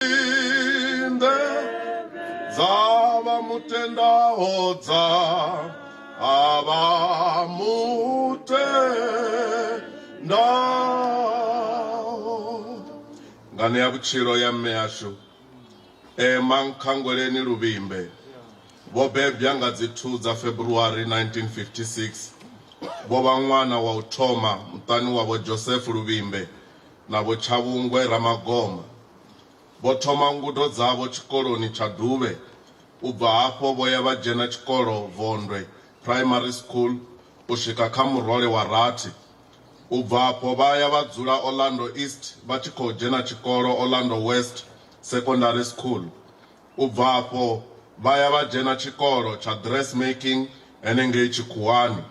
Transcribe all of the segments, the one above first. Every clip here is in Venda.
inde dzavha mutendaho dza avha mutendaho ngane ya vhutshilo ya mme yashu ema nkhangweleni luvhimbe vho bebwa nga dzi 2 dza February 1956 vho vha ṅwana wa u thoma muṱani wa vho Joseph Luvhimbe na Vho Tshavhungwe Ramagoma vho thoma ngudo dzavho tshikoloni tsha Duvhe u bva hafho vho ya vha dzhena tshikolo Vondwe Primary School u swika kha murole wa rathi. U bva afho vha ya vha dzula Orlando East vha tshi khou dzhena tshikolo Orlando West Secondary School. U bva afho vha ya vha dzhena tshikolo tsha Dressmaking henengei tshikhuwani.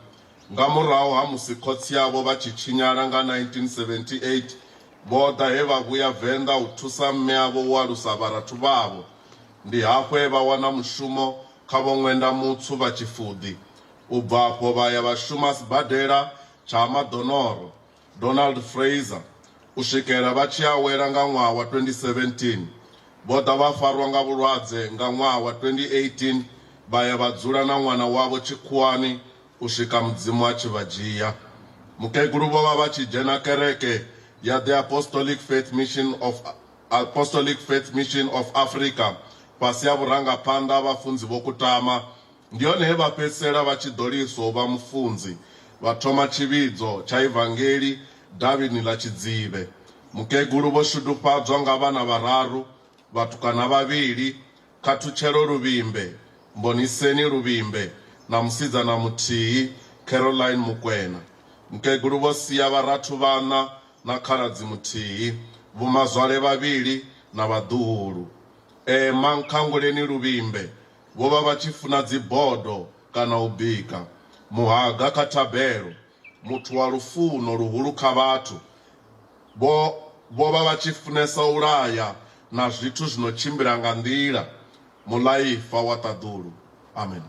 Nga murahu ha musi khotsi avho vha tshi tshinyala nga 1978, vho ḓa he vha vhuya Venḓa u thusa mme avho u alusa vharathu vhavho. Ndi hafho he vha wana mushumo kha Vho Ṅwenda Mutswu vha Tshifuḓi. U bva afho vha ya vha shuma sibadela tsha Ha Maḓonoro, Donald Fraser u swikela vha tshi awela nga ṅwaha wa 2017. Vho ḓa vha farwa nga vhulwadze nga ṅwaha wa 2018 vha ya vha dzula na ṅwana wavho tshikhuwani u swika Mudzimu a tshi vha dzhia. Mukegulu vho vha vha tshi dzhena kereke ya The Apostolic Faith Mission of Apostolic Faith Mission of Africa fhasi ha vhurangaphanḓa ha Vhafunzi Vho Kutama, Ndi hone he vha fhedzisela vha tshi ḓo liswa u vha mufunzi, vha thoma tshivhidzo tsha Evangeli davhini ḽa Tshidzivhe. Mukegulu vho shudufhadzwa nga vhana vhararu, vhatukana vhavhili, Khathutshelo Luvhimbe, Mboniseni Luvhimbe na musidzana muthihi, Caroline Mukwena. Mukegulu vho sia vharathu vhaṋa na khaladzi muthihi, vhomazwale vhavhili na vhaḓuhulu. Emma Nkhanguleni Luvhimbe vho vha vha tshi funa dzibodo kana u bika muhaga kha thabelo. Muthu wa lufuno luhulu kha vhathu vho vho vha vha tshi funesa u laya na zwithu zwi no tshimbila nga nḓila, muḽaifa wa ṱaḓulu. Amen.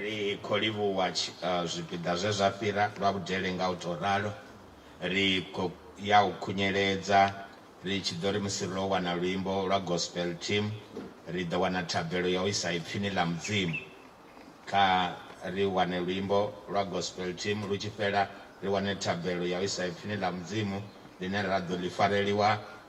Ri khou livhuwa zwipiḓa zwe zwa fhira lwa vhudele nga u tou ralo. Ri khou ya u khunyeledza ri tshi ḓo ri musi ro wana luimbo lwa Gospel Team, ri ḓo wana thabelo ya u isa Ipfini ḽa Mudzimu. Kha ri wane luimbo lwa Gospel Team lu tshi fhela, ri wane thabelo ya u isa Ipfini ḽa Mudzimu ḽine ra ḓo ḽi fareliwa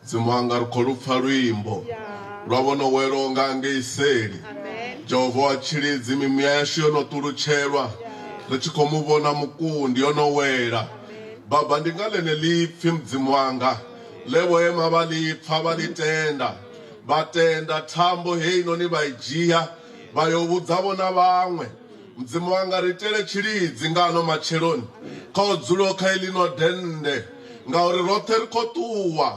Mudzimu wanga ri khou lupfa luimbo lwa vho no welwaho nga ngei seli. Jehova wa tshilidzi, mimuya yashu yo no ṱulutshelwa ri tshi khou mu vhona mukundi yo no wela. Baba, ndi nga ḽeneḽipfi Mudzimu wanga ḽe vho ema vha ḽi pfa vha ḽi tenda, vha tenda thambo heinoni vha i dzhia vha yo vhudza vho na vhaṅwe. Mudzimu wanga, ri itele tshilidzi nga ano matsheloni kha u dzulaho kha eḽino dennde, ngauri roṱhe ri khou ṱuwa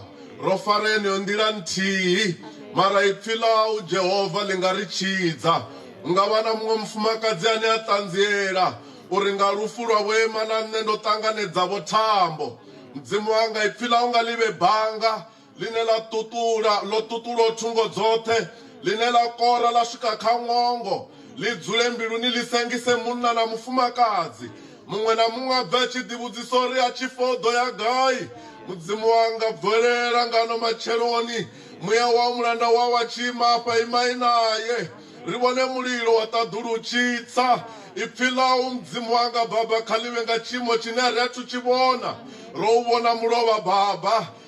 ro fara yeneyo nḓila nthihi. Mara Ipfi ḽau, Jehova, ḽi nga ri tshidza. Hu nga vha na muṅwe mufumakadzi ane a ṱanziela uri nga lufu lwa Vho Emma na nṋe ndo ṱanganedza-vho thambo. Mudzimu wanga, Ipfi ḽau nga ḽi vhe banga ḽine ḽa ṱuṱula, ḽo ṱuṱulwa thungo dzoṱhe, ḽine ḽa kora ḽa swika kha ṅwongo, ḽi dzule mbiluni ḽi sengise munna na mufumakadzi. Muṅwe na muṅwe a bve a tshi ḓivhudzisa uri a tshi fa o ḓo ya gai. Mudzimu wanga, bvelela ngano matsheloni. Muya wau mulanda wau a tshi ima afha, imai nae, ri vhone mulilo wa ṱaḓulu u tshi tsa. Ipfi ḽau, Mudzimu wanga, Baba, kha ḽi vhe nga tshiimo tshine a ri athu tshi vhona. Ro u vhona mulovha, Baba,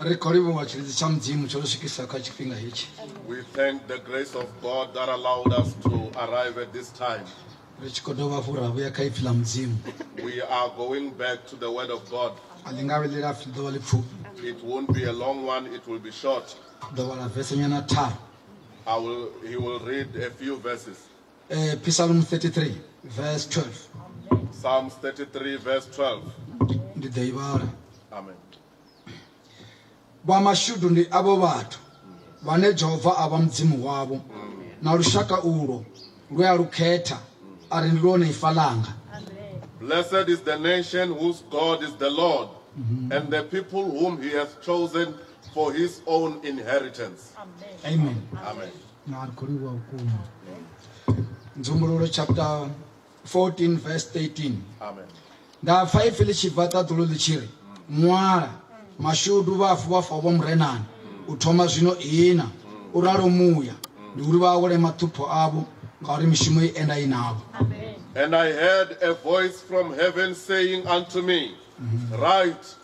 ri khou livhuwa tshilidzi tsha mudzimu tsho ri swikisa kha tshifhinga hetshi we thank the grace of god that allowed us to arrive at this time ri tshi khou dovha hafhu ra vhuya kha ipfi ḽa mudzimu we are going back to the word of god a ḽi nga vhe ḽi lapfi ḓovha ḽi pfufhi it won't be a long one it will be short ḓovha ḽa vesenyana tharu i will he will read a few verses Uh, Psalm 33 verse 12. Psalms 33 verse 12. Ndi ḓo i vhala. Amen. Vha mashudu ndi avho vhathu vhane Jehova a vha mudzimu wavho mm. na lushaka ulo lwe a lukhetha a ri ndi lwone ifa langa. Blessed is the nation whose God is the Lord mm -hmm. and the people whom he has chosen for his own inheritance. Amen. Amen. Amen. na ri khou livhuwa vhukuma nzumbululo chapter 14 verse 13 nda pfa ipfi ḽi tshi bva ṱaḓulu ḽi tshi ri ṅwala mashudu vhafu vha fao vha murenani u thoma zwino ina u ralo muya ndi uri vha awele maṱhupho avho ngauri mishumo i enda i navho And I heard a voice from heaven saying unto me, Write,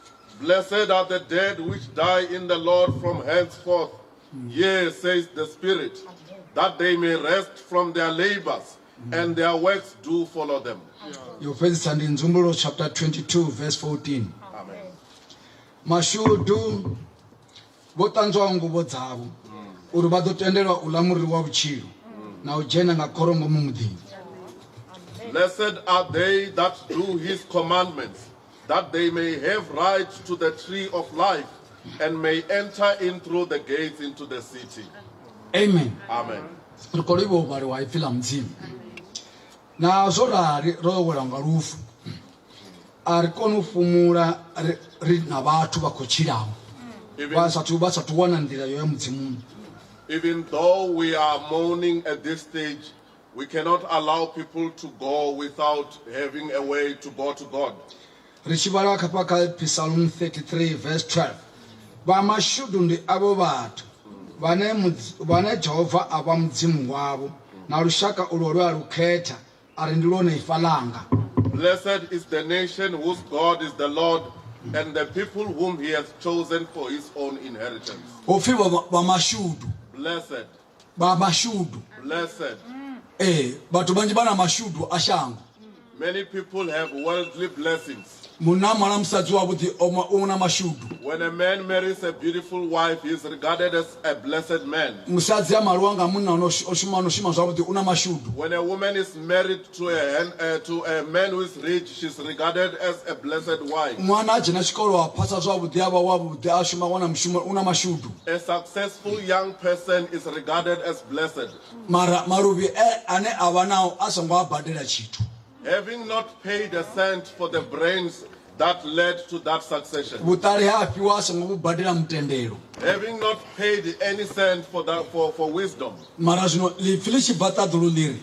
Blessed are the dead which die in the Lord from henceforth. Yea, says the Spirit, that they may rest from their labors and their works do follow them. Your friends and in Zumbulo chapter 22, verse 14. Amen. Mashudu vho ṱanzwa nguvo dzavho uri vha ḓo tendelwa u ḽa muri wa vhutshilo na u dzhena nga khoro ngomu muḓini Blessed are they that do his commandments, that they may have right to the tree of life and may enter in through the gates into the city. Amen. Amen. na zwo rali ro yo wela nga lufu a ri kone u fhumula ri na vhathu vha khou tshilaho vha sathu vha sathu wana nḓila yo ya mudzimuni even though we are mourning at this stage We cannot allow people to go without having a way to go to God. ri tshi vhala khafha kha psalm 33 verse 12 vha mashudu ndi avho vhathu vhane Mudzi- vhane jehova a vha mudzimu wavho na lushaka ulwo lwe a lu khetha a ri ndi lwone ifa ḽanga Blessed is the nation whose God is the Lord and the people whom he hath chosen for his own inheritance. hu pfi vha- vha mashudu Blessed. vha mashudu blessed eh vhathu vhanzhi vha na mashudu a shango many people have worldly blessings munna mala musadzi wavhuḓi o ma- u na mashudu when a man marries a beautiful wife he is regarded as a blessed man musadzi a maliwa nga munna ono sh- o shuma ono shuma zwavhuḓi u na mashudu when a woman is married To a, hen, uh, to a man who is rich, she's regarded as a blessed wife. ṅwana a dzhena tshikolo a phasa zwavhuḓi a vha wavhuḓi a shuma wana mushumo u na mashudu A successful young person is regarded as blessed. mara maluvhi e ane a vha nao a songo a badela tshithu Having not paid a cent for the brains that led to that succession. vhuṱali ha a fhiwa a songo vhu badela mutendelo Having not paid any cent for, the, for, for wisdom. mara zwino ḽipfi ḽi tshi bva ṱaḓulu ḽi ri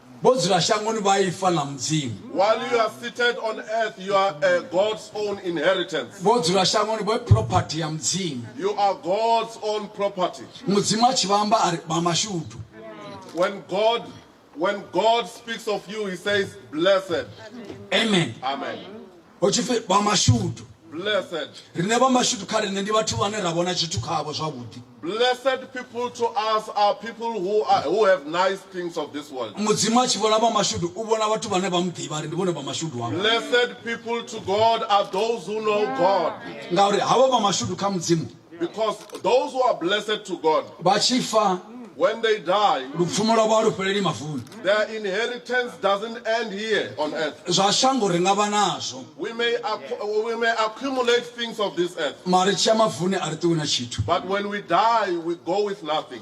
Vho dzula shangoni vha ifa ḽa Mudzimu. While you are seated on earth, you are a God's own inheritance. Vho dzula shangoni vho property ya Mudzimu. You are God's own property. Mudzimu a tshi vha amba a ri vha mashudu. When God when God speaks of you, he says blessed. Amen. Amen. hu tshi pfi vha mashudu Blessed. riṋe vha mashudu kha riṋe ndi vhathu vhane ra vhona tshithu khavho zwavhuḓi Blessed people to us are people who are who have nice things of this world. mudzimu a tshi vhona vha mashudu u vhona vhathu vhane vha mu ḓivha ri ndi vhone vha mashudu wavho Blessed people to God are those who know God. ngauri havha vha mashudu kha mudzimu Because those who are blessed to God, vha tshi fa when they die, lupfumo lwavho a lu fheleli mavuni their inheritance doesn't end here on earth. zwa shango ri nga vha nazwo We may, accu- we may accumulate things of this earth, mara ri tshi ya mavuni a ri ṱuwi na tshithu but when we die, we go with nothing.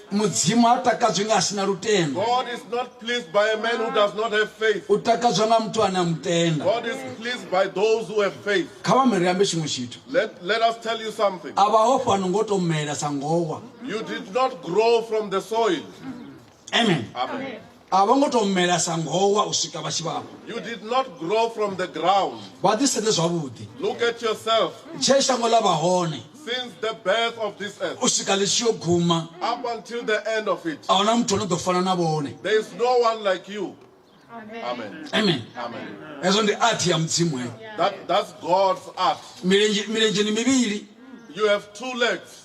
mudzimu ha takadzwi nga a si na lutendo God is not pleased by a man who does not have faith. u takadzwa nga muthu ane a mu tenda God is pleased by those who have faith. kha vha miri ambe tshiṅwe tshithu Let, let us tell you something. a vha ho fhano ngo to mela sa ngowa You did not grow from the soil. amen Amen. a vho ngo tou mela sa ngowa u swika vha tshi vha vho You did not grow from the ground. vha ḓisedze zwavhuḓi Look at yourself tshee shango ḽa vha hone since the birth of this earth u swika ḽi tshi yo guma up until the end of it. a huna muthu o no ḓo fana na vhone There is no one like you. Amen. amen Amen. hezwo ndi athi ya mudzimu heyo That, that's God's art. milenzhe milenzheni mivhili You have two legs.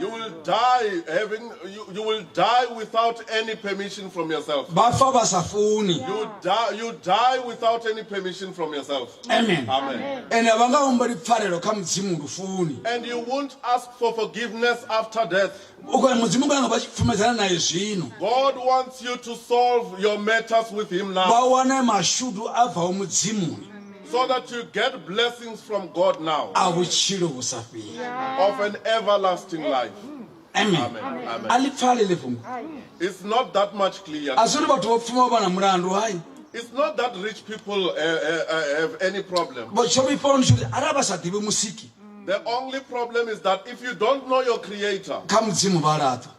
You will die having you, you will die without any permission from yourself. bafa ba sa funi You die you die without any permission from yourself. amen Amen. ende a vha nga humbeli pfarelo kha mudzimu ndi funi And you won't ask for forgiveness after death. u khou mudzimu nga nga vha tshi pfumedzana naye zwino God wants you to solve your matters with him vha now. wane mashudu a bvaho mudzimuni So that you get blessings from God now. A vhutshilo vhu sa fheli. Of an everlasting life. Amen. Amen. Amen. A ḽi pfale ḽi fhungo. It's not that much clear. A zwi ri vhathu vho pfuma vha na mulandu hai. It's not that rich people uh, uh, uh, have any problem. Vho tsho vhifha uri tshuri arali vha sa ḓivhi musiki. The only problem is that if you don't know your creator. Kha mudzimu vha laṱwa.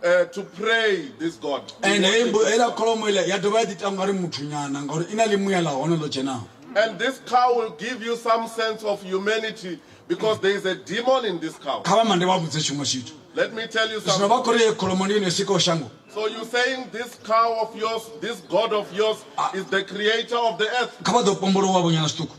Uh, to pray this god and heiḽa kholomo iḽa ya dovha ya ḓi tangwa ri muthu nyana ngauri i na ḽimuya ḽa hone ḽo dzhenaho and this cow will give you some sense of humanity because there is a demon in this cow kha vha mande vha vhudze tshiṅwe tshithu let me tell you something vha khori ye kholomo ndi yone sikaho shango so you saying this cow of yours this god of yours ah. is the creator of the earth kha vha ḓo pombolowa vhonyana zwiṱuku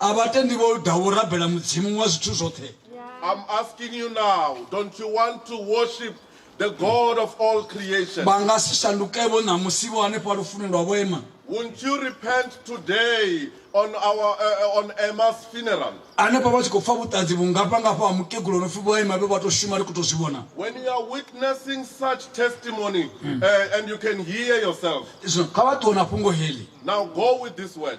A vha tendi vho ḓa vho rabela Mudzimu wa zwithu zwoṱhe. I'm asking you now, don't you want to worship the God of all creation? Vha nga si shanduke vho ṋamusi vho hanefha lufuni lwa vho ema. Won't you repent today on our uh, on Emma's funeral? Hanefha vha tshi khou pfa vhuṱanzi vhungafha ngafha ha mukegulu no pfi vho ema vhe vha tou shuma ri khou tou zwi vhona. When you are witnessing such testimony uh, and you can hear yourself, Zwino kha vha ṱuwe na fhungo heḽi. now go with this word.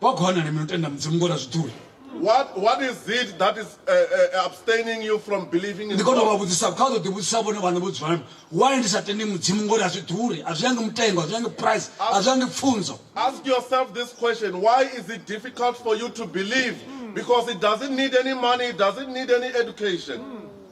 Wa kona na mini u tenda Mudzimu ngo ḽa zwiṱuri? What, what is it that is uh, uh, abstaining you from believing in Ndi kona u vha God? vhudzisa, kha u ḓo ḓivhudzisa vhone vhaṋe vho dzula nami. Why ndi sa tendi Mudzimu ngori a zwi ḓuri, a zwi yangi mutengo, a zwi yangi price, a zwi yangi pfunzo. Ask yourself this question Why is it difficult for you to believe? Because it doesn't need any money, it doesn't need any education.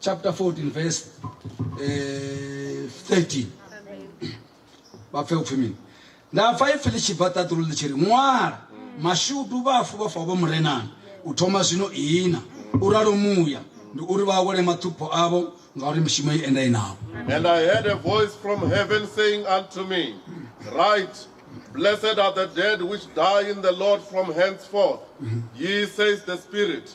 chapter 14 verse eh, 13 vha pfe upfi mini nda pfa ipfi ḽi tshi bva ṱaḓulu ḽi tshi ri ṅwala mashudu vhafu vha fa vho murenani u thoma zwino ihina u ralo muya ndi uri vha awele maṱhupho avho ngauri mishumo i enda inavho And I heard a voice from heaven saying unto me, Write, Blessed are the dead which die in the Lord from henceforth. Ye, says the Spirit,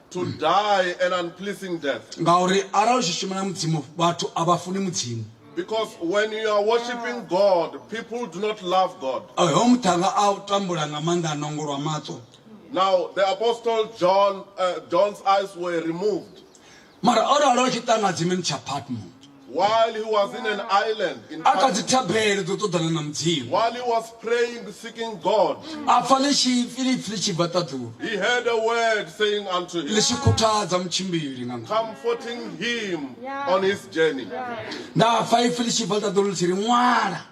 to die an unpleasing death. Ngauri arali u tshi shuma na Mudzimu vhathu a vha funi Mudzimu. Because when you are worshiping God, people do not love God. Hoyo muṱhanga a tambula nga maanḓa a nongolwa maṱo. Now the apostle John uh, John's eyes were removed. Mara o ralo tshi ṱanga dzimini tsha Patmo. While he was in an island in a kha dzi thabelo dzo ṱoḓana na mudzimu while he was praying, seeking God, a pfa ḽishipfi lipfi ḽi tshi bva ṱaḓulu he heard a word saying unto ḽi him, tshi khuthadza mutshimbili nga ngomu comforting him on his journey. nda pfa ipfi ḽi tshi bva ṱaḓulu ḽi tshi ri ṅwala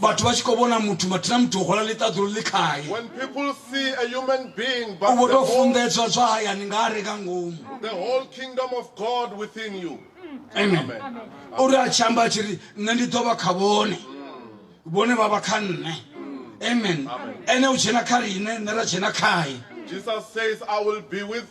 vhathu vha tshi khou vhona muthu mathina muthu o hwala ḽiṱaḓulu ḽi khae u vho tou funḓedzwa zwa hayani nga are nga ngomu amen uri a tshi amba a tshi ri nṋe ndi ḓo vha kha vhone vhone vha vha kha nṋe amen ene u dzhena kha riṋe nṋe ra dzhena khae Jesus says, I will be with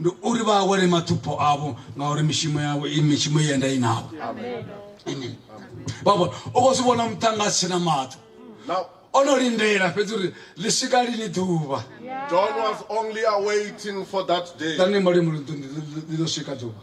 ndi uri vha awele mathupho avho ngauri mishumo yavho i mishumo ye nda i navho amen baba u khou zwi vhona muṱanga a si tshena maṱo o no lindela fhedzi uri ḽi swika lini ḓuvha john was only awaiting for that day ḓa ni molimo ḽi ḓo swika ḓuvha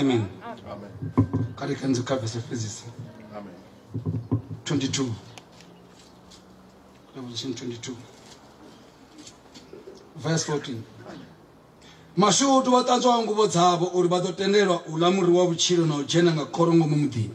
amen kale khe ndikhavise fezise 22 revelation 22 verse 14 mashudu vha ṱanzwaho nguvho dzavho uri vha ḓo tendelwa u ḽa muri wa vhutshilo na u dzhena nga khoro ngomu muḓini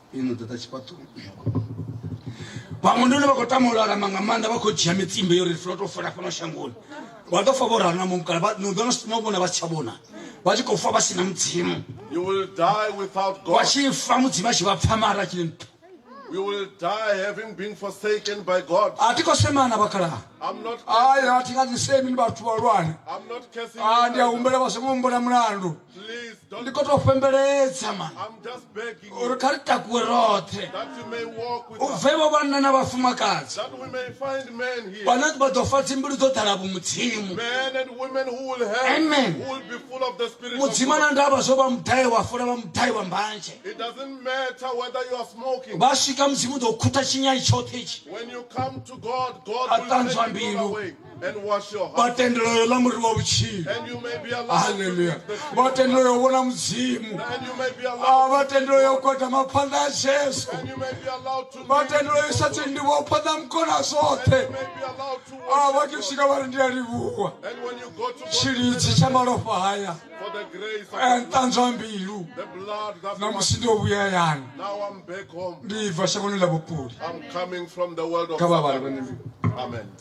ino ḓaḓa tshifhaṱoni vhaṅwe ndi hune vha khou tama u lalama nga maanḓa vha khou dzhia mitsimbe yo ri funa to fola fhano shangoni vha ḓo fa vho ralo na mumukala no ḓo no vhona vha si tsha vhona vha tshi khou fa vha si na mudzimu vha tshi fa mudzimu a tshi vha pfa mara tshi nthu We will die having been forsaken by God. I'm not cursing. I'm not cursing. I'm not cursing. ndi khou tou fhembeledza man uri kha ri takuwe roṱhe u bvevho vhanna na vhafumakadzi vhane vha ḓo fa dzimbilu dzo ḓala vhumudzimu amen mudzimu na ndavha zwo vha mudai wa fula vha mudai wa mbanzhe vha swika mudzimu ḓo khutha tshinyai tshoṱhe itshi a ṱanzwa mbilu vha tendela yo ḽa muri wa vhutshilo haleluya vha tendela yo vhona mudzimu vha tendela yo gwadama phanḓa ya jesu vha tendela yo isa tsindiwo phanḓa mukona zwoṱhe vha tshi swika vha ri ndi a livhuwa tshilidzi tsha malofha haya nṱanzwa mbilu na musi ndi o vhuya hayani ndi bva shangoni ḽa vhupuli kha vhavhali vhane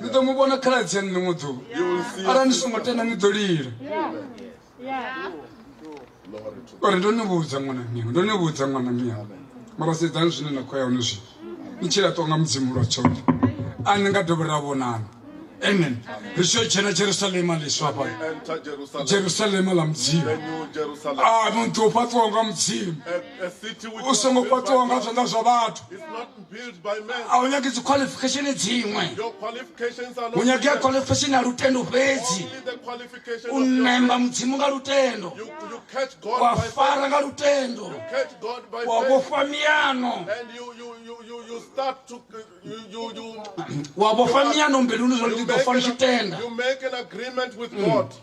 ni ḓo mu vhona khaladzi ya ḽiṅwe ḓuvha arali ni songo tenda ni ḓo lila uri ndo ni vhudza ṅwana miwe ndo ni vhudza ṅwana miwe mara sedzani zwine na khou ya hone zwino ni tshi laṱwa nga mudzimu lwa tshoṱhe a ni nga dovhi ra vhonana amen ri tshi yo dzhena jerusalema ḽiswa hafha jerusalema ḽa mudzimu a muḓi u fhaṱiwaho nga mudzimu u songo fhaṱiwaho nga zwanḓa zwa vhathu a u nyagi dzikhwalifikhesheni dziṅwe u nyagea khwalifikhesheni ya lutendo fhedzi u ṋemba mudzimu nga lutendo wa fara nga lutendo wa vhofha miano wa vhofha miano mbiluni zwa ndi ḓo fa ndi tshi tenda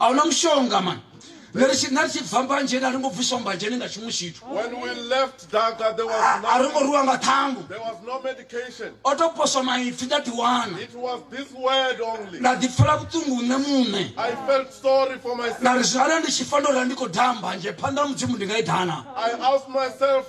a hu na mushonga mani nṋe ri tshi- nṋe ri tshi bva mbanzheni a ri ngo bviswa mbanzheni nga tshiṅwe tshithu When we left Daga, there was a ri ngo nothing. rwiwa nga ṱhangu There was no medication. o tou poswa maipfi nda ḓiwana It was this word only. nda ḓipfela vhuṱungu nṋe muṋe I felt sorry for nda myself. ri zwi arali ndi tshi fa ndo rali ndi khou daha mbanzhe phanḓa ha mudzimu ndi nga i dana I asked myself,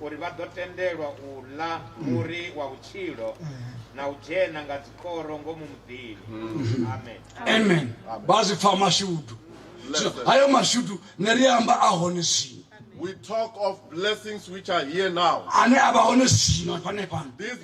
uri vha ḓo tendelwa u ḽa muri wa vhutshilo na u dzhena nga dzikoro ngomu muḓini amen amen vha zwi pfa mashudu hayo mashudu ne ri amba a hone zwino we talk of blessings which are here now ane a vha hone zwino hanefhano